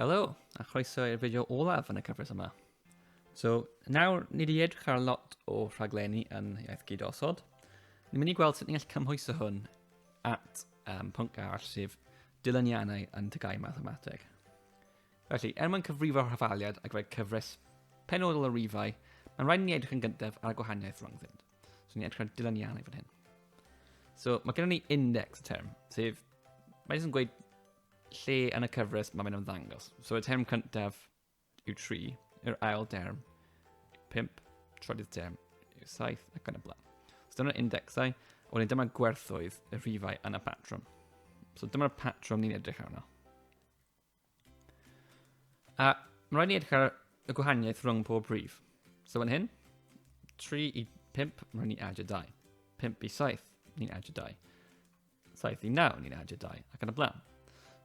Helo, a chroeso i'r fideo olaf yn y cyfres yma. So, nawr ni wedi edrych ar lot o rhaglenni yn iaith gyd osod. Ni'n mynd i gweld sut ni'n gallu cymhwyso hwn at um, pwnc arall sef dilyniannau yn tygau mathemateg. Felly, er mwyn cyfrifo'r hafaliad ac fe cyfres penodol o rifau, mae'n rhaid ni edrych yn gyntaf ar y gwahaniaeth rhyngddynt. So ni'n edrych ar dilyniannau fan hyn. So mae gennym ni index y term, sef, mae'n jyst yn gweud Lle yn y cyfres mae fe'n ymddangos? So y term cyntaf yw tri, yr ail derm, pimp, trydydd term yw saith ac yn y blaen. So dyma'r indexau, a wedyn dyma gwerthoedd y rhifau yn y patrwm. So dyma'r patrwm ni'n edrych arno. A mae'n rhaid ni edrych ar y gwahaniaeth rhwng pob rhif. So fan hyn, 3 i 5, mae'n rhaid ni adio 2. 5 i 7, ni'n adio 2. Saith i naw, ni'n adio dau, ac yn y blaen.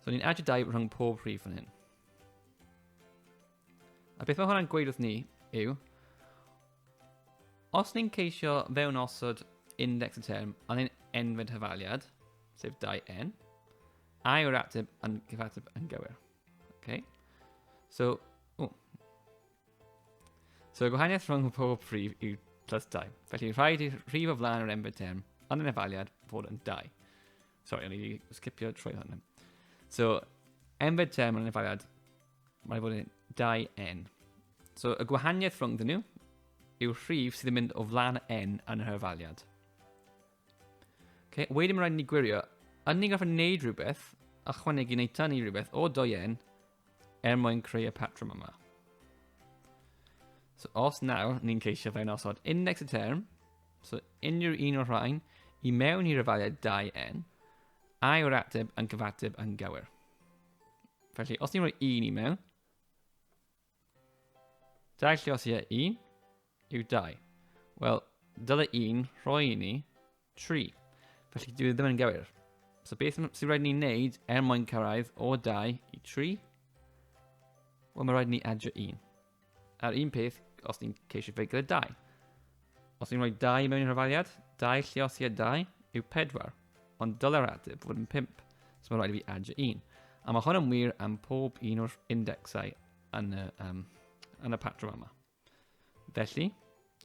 So ni'n adio dau rhwng pob rhif yn hyn. A beth mae hwnna'n gweud wrth ni yw, os ni'n ceisio fewn osod index y term a ni'n enfyd hyfaliad, sef 2n, a yw'r ateb yn gyfateb yn gywir. Okay. So, o, So y gwahaniaeth rhwng pob prif yw plus 2. Felly rhaid i rhif o flaen yr enbyd term ond yn efaliad fod yn 2. Sorry, o'n i wedi sgipio trwy hwn. So, enbyd term yn efaliad, mae'n fod yn 2n. So, y gwahaniaeth rhwng dyn nhw yw rhif sydd yn mynd o flaen n yn yr efaliad. Okay, wedyn mae'n rhaid ni gwirio, yn ni'n gorfod gwneud rhywbeth, a chwanegu neu tan ni rhywbeth o 2n Er mwyn creu y patrwm yma. So os nawr ni'n ceisio fe'n osod index y term, so unrhyw un o'r rhain, i mewn i'r efaliad 2n, a yw'r ateb yn gyfateb yn gywir. Felly, os ni'n rhoi un i mewn, dau lle os ie un, yw dau. Wel, dyle un rhoi i ni 3. Felly dwi ddim yn gywir. So beth sy'n rhaid ni wneud er mwyn cyrraedd o 2 i 3? Wel, mae rhaid ni adio 1. A'r un peth os ni'n ceisio fe gyda 2. Os ni'n rhoi 2 mewn i'r rhafaliad, 2 lliosiad 2 yw 4, ond dylai'r ateb fod yn 5, so mae rhaid i fi adio 1. A mae hwn yn wir am pob un o'r indexau yn y, um, yn y patrwm yma. Felly,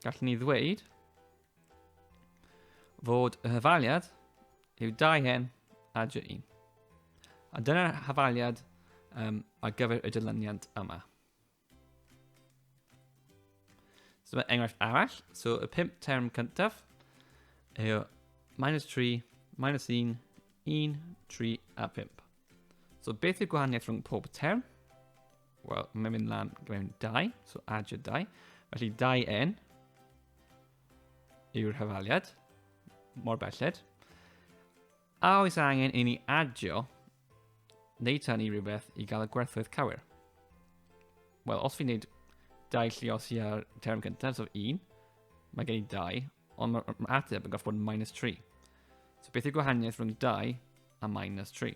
gallwn ni ddweud fod y hyfaliad yw 2 hen a dy 1. A dyna'r hyfaliad um, ar gyfer y dilyniant yma. So mae enghraifft arall, so y pimp term cyntaf yw minus 3, minus 1, 1, 3 a 5. So beth yw gwahaniaeth rhwng pob term? Wel, mae'n mynd lan mewn dau, so add your dau. Felly 2n yw'r hyfaliad, mor belled. A oes angen i ni adio neu tan i rhywbeth i gael y gwerthoedd cywir? Wel, os fi'n neud dau llios i ar term cyntaf, so 1, mae gen i 2, ond mae ma ateb yn gorfod bod yn minus 3. So beth yw gwahaniaeth rhwng 2 a minus 3?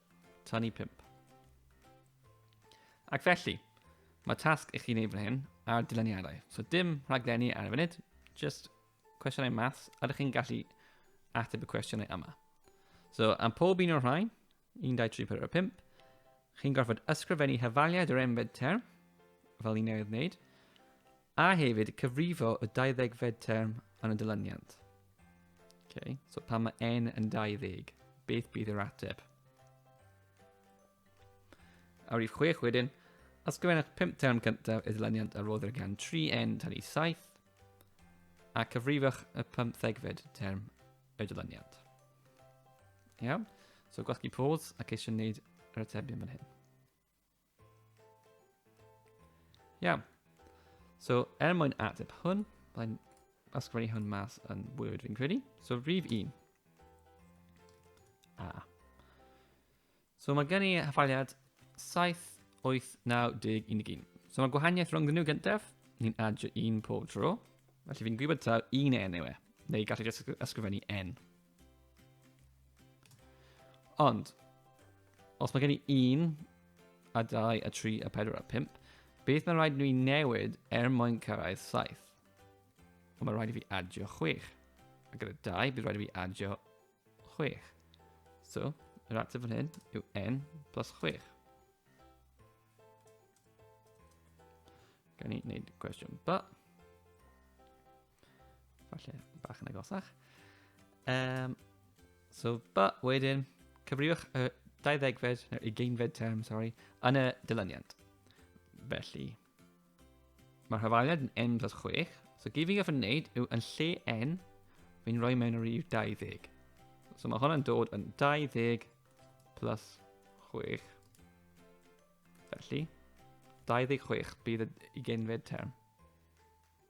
Tan i 5. Ac felly, mae tasg i chi wneud fan hyn a'r dyluniadau. So dim rhaglenni ar y funud, just cwestiynau maths, a ydych chi'n gallu ateb y cwestiynau yma. So, am pob un o'r rhain, 1, 2, 3, 4, 5, chi'n gorfod ysgrifennu hyfaliad yr enfed term, fel ni'n newydd wneud, A hefyd, cyfrifo y 20fed term yn y dilyniant. Okay. So pan mae n yn 20, beth bydd yr ateb? A rif 6 wedyn, ysgrifennwch 5 term cyntaf y dilyniant a roddir gan 3n tan i 7, a cyfrifwch y 15fed term y dilyniant. Iawn? So gwasgu pause ac eisiau gwneud yr atebion fan hyn. Iawn. So, er mwyn ateb hwn, byddai'n ysgrifennu hwn mas yn Word fi'n credu. So, rhif 1. A. So, mae gen i hyffaliad 7, 8, 9, 10, 11. So, mae gwahaniaeth rhwng nhw gyntaf, ni'n adio un pob tro. Felly, fi'n gwybod taw un N yw e, neu gallu ysgrifennu N. Ond, os mae gen i un, a dau, a tri, a pedwar, a pimp, beth mae'n rhaid nhw i newid er mwyn cyrraedd saith? Ond mae'n rhaid i fi adio chwech. A gyda dau, bydd rhaid i fi adio chwech. So, yr ateb fan hyn yw n plus chwech. Gan i wneud cwestiwn ba. Falle bach yn agosach. Um, so, ba, wedyn, cyfriwch y 20fed, neu 20fed term, sorry, yn y dilyniant. Felly, mae'r hyfaliad yn n plus 6, so gyd fi'n gofyn wneud yw yn lle n, fi'n rhoi mewn yr yw 20. So mae hwnna'n dod yn 20 plus 6. Felly, 26 bydd y genfed term.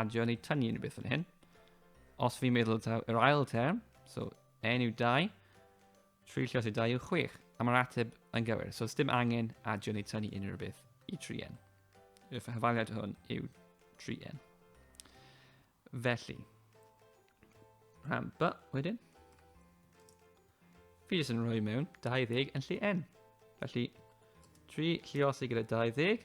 adio neu tynnu unrhyw beth fan hyn. Os fi'n meddwl taw yr ail term, so n yw 2, tri llios yw 2 yw 6, a mae'r ateb yn gywir. So dim angen adio neu tynnu unrhyw beth i 3n. Y hyfaliad hwn yw 3n. Felly, rhan b wedyn, fi jyst yn rhoi mewn 20 yn lle n. Felly, 3 lliosi gyda 20,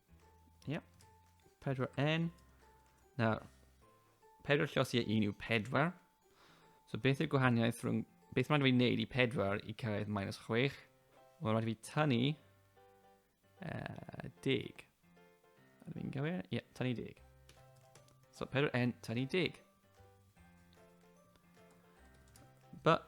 Yep. Pedwar N. Nawr, pedwar llosi a un yw pedwar. So beth yw'r gwahaniaeth rhwng... Beth mae'n rhaid i wneud i pedwar i cyrraedd minus chwech? Mae'n rhaid i fi tynnu... Uh, deg. Ydw i'n gywir? Ie, yeah, tynnu deg. So pedwar N, tynnu deg. But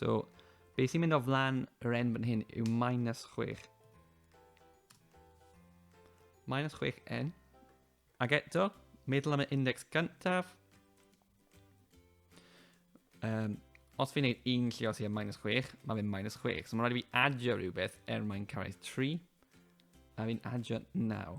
So, beth sy'n mynd o flan yr n fan hyn yw minus 6. Minus 6n. Ac eto, meddwl am y index gyntaf. Um, os fi'n gwneud un lle os i am minus 6, mae fe'n minus 6. So mae'n rhaid i fi adio rhywbeth er mae'n cyrraedd 3. A fi'n adio 9.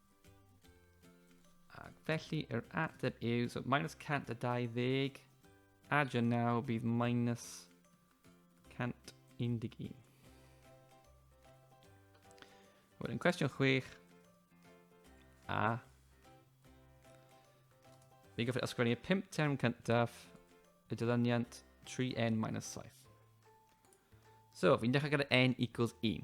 Ac felly yr ateb yw, so minus 120, adio naw bydd minus 111. Wedyn cwestiwn chwech, a Fi'n gofyn ysgrifennu y pimp term cyntaf, y dilyniant 3n minus 7. So, fi'n dechrau gyda n equals 1.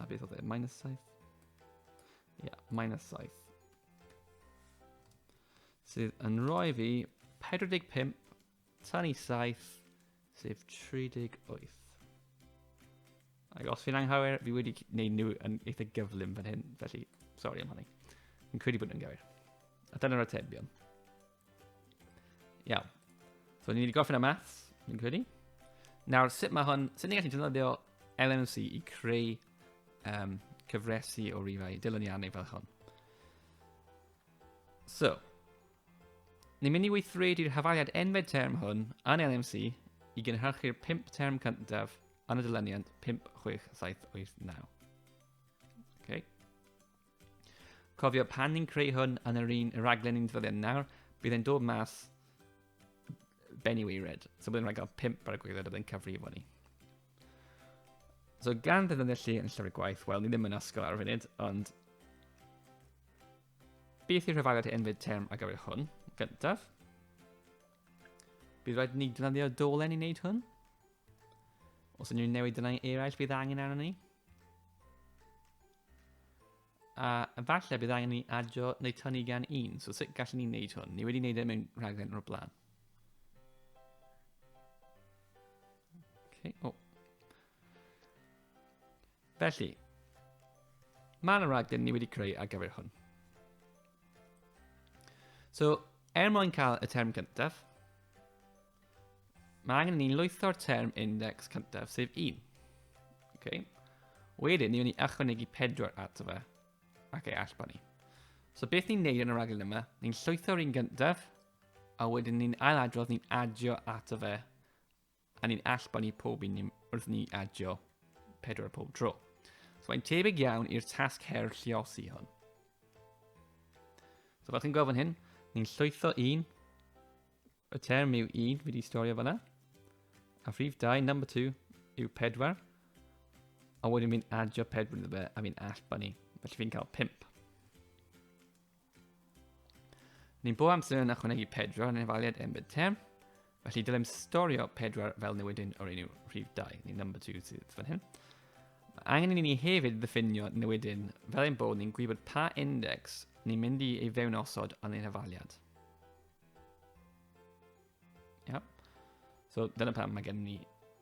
A beth oedd e? Minus 7? Ie, yeah, minus 7. Sydd yn rhoi fi 45 tan i 7, sef 38. Ac os fi'n anghywir, fi wedi gwneud nhw yn eitha gyflym fan hyn, felly, sori am hynny. Fi'n credu bod nhw'n gywir. A dyna'r atebion. Iawn. So, ni'n mynd i gofyn am maths, ni'n credu. Nawr, sut mae hwn, sut ni'n gallu defnyddio LNC i creu um, cyfresu o rifau dilyniannau fel hwn. So, ni'n mynd i weithredu'r hafaliad enfed term hwn yn LMC i gynhyrchu'r 5 term cyntaf yn y dilyniant 5, 6, 7, 8, 9. Okay. Cofio, pan ni'n creu hwn yn yr un raglen ni'n ddyddiau nawr, bydd e'n dod mas benni weired. So bydd e'n rhaid gael pimp ar y gwylod a bydd e'n cyfrifo ni. So gan ddefnyddio lle yn llyfr gwaith, wel, ni ddim yn ysgol ar y funud, ond beth yw'r rhyfaliad enfyd term ar gyfer hwn, gyntaf? Bydd rhaid ni ddefnyddio dolen i wneud hwn. Os unrhyw newidau eraill bydd angen arno ni. A efallai bydd angen ni adio neu tynnu gan un. So sut gallwn ni wneud hwn? Ni wedi wneud e mewn rhaglen o'r blaen. Okay. Oh. Felly, mae yna raglen ni wedi creu ar gyfer hwn. So, er mwyn cael y term gyntaf, Mae angen ni lwytho'r term index cyntaf, sef 1. Okay. Wedyn, ni wedi ychwanegu 4 ato fe, ac ei allbon ni. So beth ni'n neud yn y raglen yma, ni'n llwytho'r un gyntaf, a wedyn ni'n ailadrodd ni'n adio ato fe, a ni'n allbon ni pob un wrth ni adio 4 pob tro. So mae'n tebyg iawn i'r tasg her lliosi hwn. So fel chi'n gweld fan hyn, ni'n llwytho un, Y term yw un fi wedi storio fanna. A rhif 2, number 2, yw 4. A wedyn fi'n adio 4 iddo fe a fi'n allbanu. Felly fi'n cael 5. Ni'n bob amser yn ychwanegu 4 yn efaliad embed term. Felly dylem storio 4 fel newidyn o'r enw rhif 2, neu number 2 sydd fan hyn. Mae angen i ni hefyd ddiffinio newidyn fel ein bod ni'n gwybod pa index ni'n mynd i ei fewn osod yn ein hefaliad. Yep. So, dyna pam mae gen ni...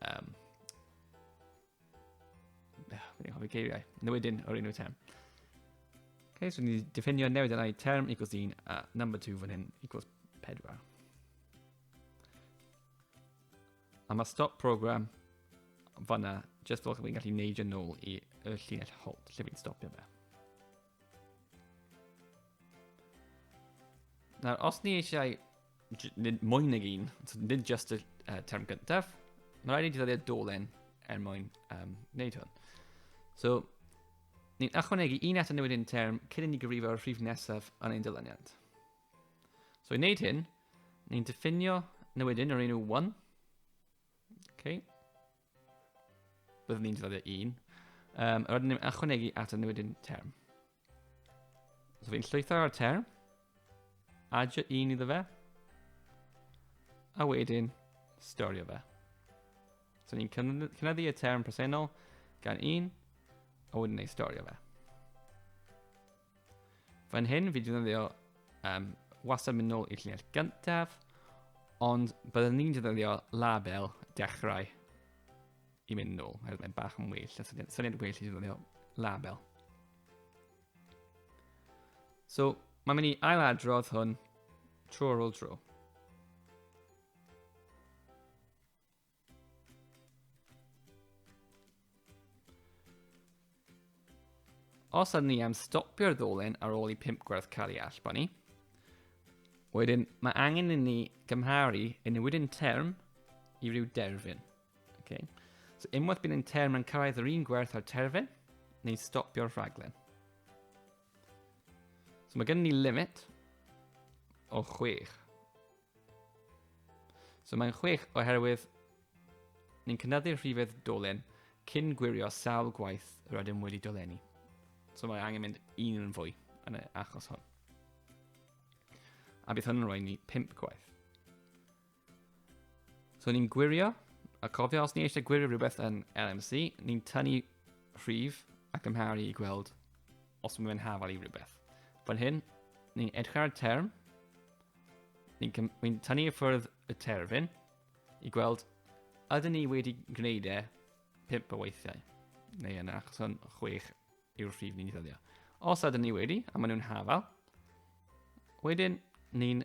Um, ah, Fi'n hoffi geiriau. Newidyn o'r enw term. Okay, so ni diffinio newid yna i term equals 1 a number 2 fan hyn equals 4. A mae stop program fanna, just fel fi'n gallu neud yn ôl i y llinell hold lle fi'n stopio fe. Nawr, os ni eisiau nid mwy nag un, nid just y uh, term gyntaf, mae rhaid i ni ddyddiau dolen er mwyn um, wneud hwn. So, ni'n achwanegu un at y newid un term cyn i ni gyfrifo'r rhif nesaf yn ein dyluniad. So, i wneud hyn, ni'n diffinio newidyn o'r enw 1. Okay. Byddwn ni'n defnyddio un. Um, rydyn ni'n ychwanegu at y newidyn term. So fi'n llwytho ar y term, adio un iddo fe, a wedyn storio fe. So ni'n cynyddu y term presennol gan un, a wedyn ei storio fe. Fan hyn fi wedi ddefnyddio um, wastad mynd nôl i'r llinell gyntaf, ond byddwn ni'n ddefnyddio label dechrau i mynd nôl, oherwydd mae'n bach yn well, a syniad, syniad well i ddefnyddio label. So, mae'n mynd i ailadrodd hwn tro ar ôl tro. Os ydyn ni am stopio'r ddolen ar ôl i pimp gwerth cael ei allbanu, wedyn mae angen i ni gymharu yn newid yn term i ryw derfyn. Okay. So unwaith bydd yn term yn cyrraedd yr un gwerth ar terfyn, neu stopio'r rhaglen. So mae gen ni limit o 6. So mae'n chwech oherwydd ni'n cynyddu'r rhifedd dolen cyn gwirio sawl gwaith yr ydym wedi dolenni. So mae angen mynd un yn fwy yn y achos hwn. A bydd hwn yn rhoi ni 5 gwaith. So ni'n gwirio, a cofio os ni eisiau gwirio rhywbeth yn LMC, ni'n tynnu rhif ac ymharu i gweld os mae'n hafal i rhywbeth. Fan hyn, ni'n edrych ar y term, Ni'n cym- ni'n tynnu i ffwrdd y terfyn i gweld ydyn ni wedi gwneud e pimp o weithiau. Neu yn achos hwn, chwech yw'r rhif ni'n ddyddio. Os ydyn ni wedi, a maen nhw'n hafal, wedyn ni'n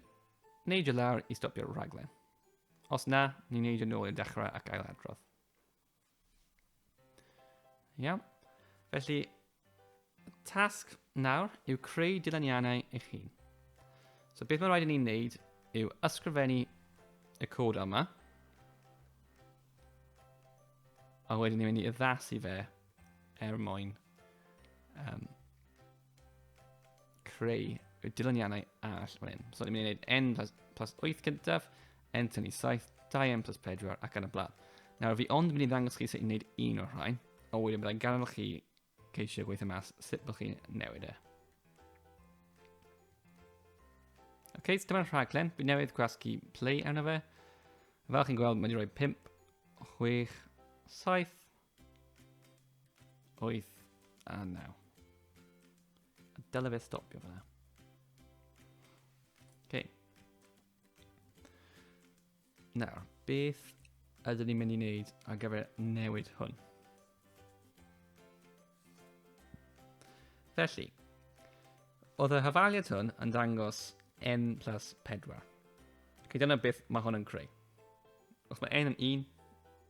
neud y lawr i stopio'r rhaglen. Os na, ni'n neud yn ôl i'r dechrau ac ail adrodd. Iawn. Felly, tasg nawr yw creu dyluniannau eich hun. So beth mae'n rhaid i ni'n wneud yw ysgrifennu y cod yma. A wedyn ni'n mynd i addasu fe er mwyn um, creu y dilyniannau all fan hyn. So ni'n mynd i wneud n plus, plus 8 gyntaf, n tynnu 7, 2n plus 4 ac yn y blaen. Nawr fi ond mynd i ddangos chi sut i'n gwneud un o'r rhain, a wedyn byddai'n ganol chi ceisio gweithio mas sut bod chi'n newid e. Oce, okay, so dyma'r rhaglen. Fi newydd gwasgu play arno fe. Fel chi'n gweld, mae wedi rhoi 5, 6, 7, 8 a 9. Dyle fe stopio fyna. Okay. Nawr, beth ydyn ni'n mynd i wneud ar gyfer newid hwn? Felly, oedd y hafaliad hwn yn dangos n plus 4. Ac dyna beth mae hwn yn creu. Os mae n yn 1,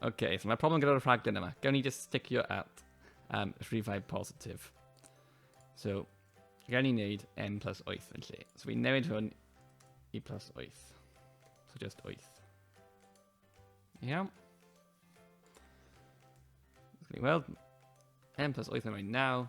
Okay, so mae problem gyda'r rhaglen yma. Gawn ni just stickio at um, rhifau positif. So, gawn ni wneud n plus 8 yn lle. So fi'n newid hwn i plus 8. So just 8. Iawn. Gawn ni weld n plus 8 yn rhoi 9.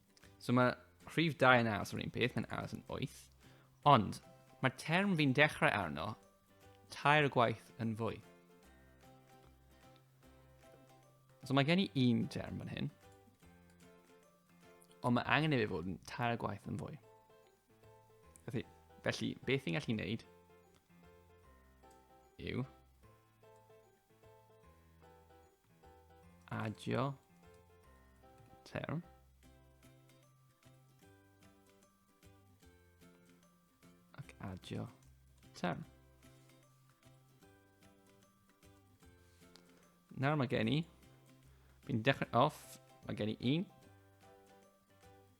So mae rhif 2 yn aros yr un peth, mae'n aros yn 8. Ond mae'r term fi'n dechrau arno tair gwaith yn fwy. So mae gen i un term fan hyn, ond mae angen i fi fod yn tair gwaith yn fwy. Felly, felly beth i'n gallu wneud yw Adio term. Ac adio term. Nawr mae gen i, fi'n dechrau off, mae gen i un,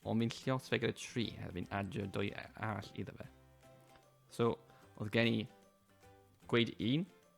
ond fi'n lliot fe gyda tri, a fi'n adio dwy arall iddo fe. So, oedd gen i gweud un,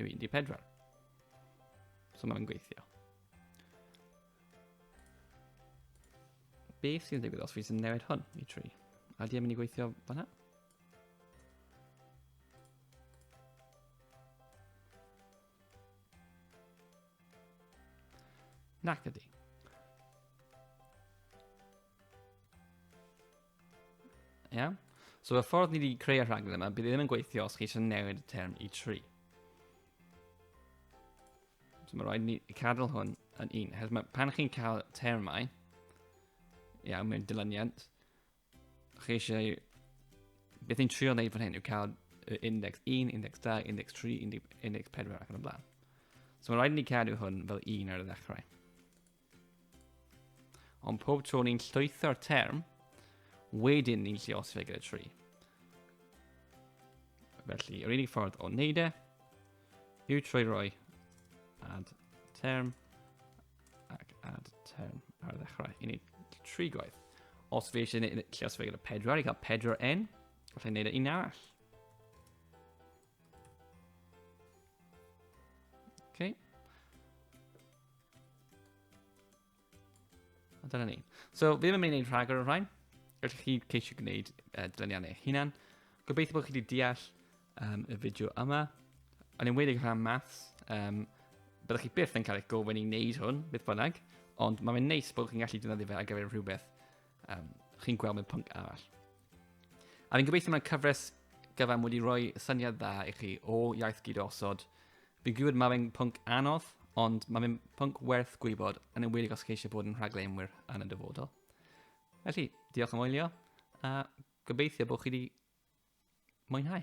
yw 14. So mae'n gweithio. Beth sy'n digwydd os fi sy'n newid hwn i 3? A di am mynd i gweithio fanna? Nac ydi. Ie? Yeah? So y ffordd ni wedi creu y rhaglen yma, bydd e ddim yn gweithio os chi eisiau newid y term i 3. So mae rhaid ni cadw hwn yn un. Hes mae, pan chi'n cael termau, iawn, mewn dilyniant, chi eisiau... Beth ni'n trio wneud fan hyn yw cael index 1, index 2, index 3, index 4 ac yn y blaen. So mae rhaid ni cadw hwn fel un ar y ddechrau. Ond pob tro ni'n llwytho'r term, wedyn ni'n lli os ffigure y tri. Felly, yr unig ffordd o wneud e yw trwy roi add term ac add term ar y ddechrau i ni tri gwaith. Os fi eisiau gwneud lle os fe gyda pedwar i cael pedwar n, gallai wneud e un arall. Okay. A dyna ni. So, fi ddim yn mynd i wneud rhagor o rhain. Gallwch chi ceisio gwneud uh, dyluniannau eich hunan. Gobeithio bod chi wedi deall um, y fideo yma. Yn enwedig rhan maths, um, byddwch chi byth yn cael eich gofyn i wneud hwn, beth bynnag, ond mae'n neis bod chi'n gallu defnyddio fe ar gyfer rhywbeth um, chi'n gweld mewn pwnc arall. A fi'n gobeithio mae'n cyfres gyfan wedi rhoi syniad dda i chi o iaith gyd osod. Fi'n gwybod mae fe'n pwnc anodd, ond mae fe'n pwnc werth gwybod yn ymwedig os chi eisiau bod yn rhaglenwyr yn y dyfodol. Felly, diolch am wylio, a gobeithio bod chi wedi mwynhau.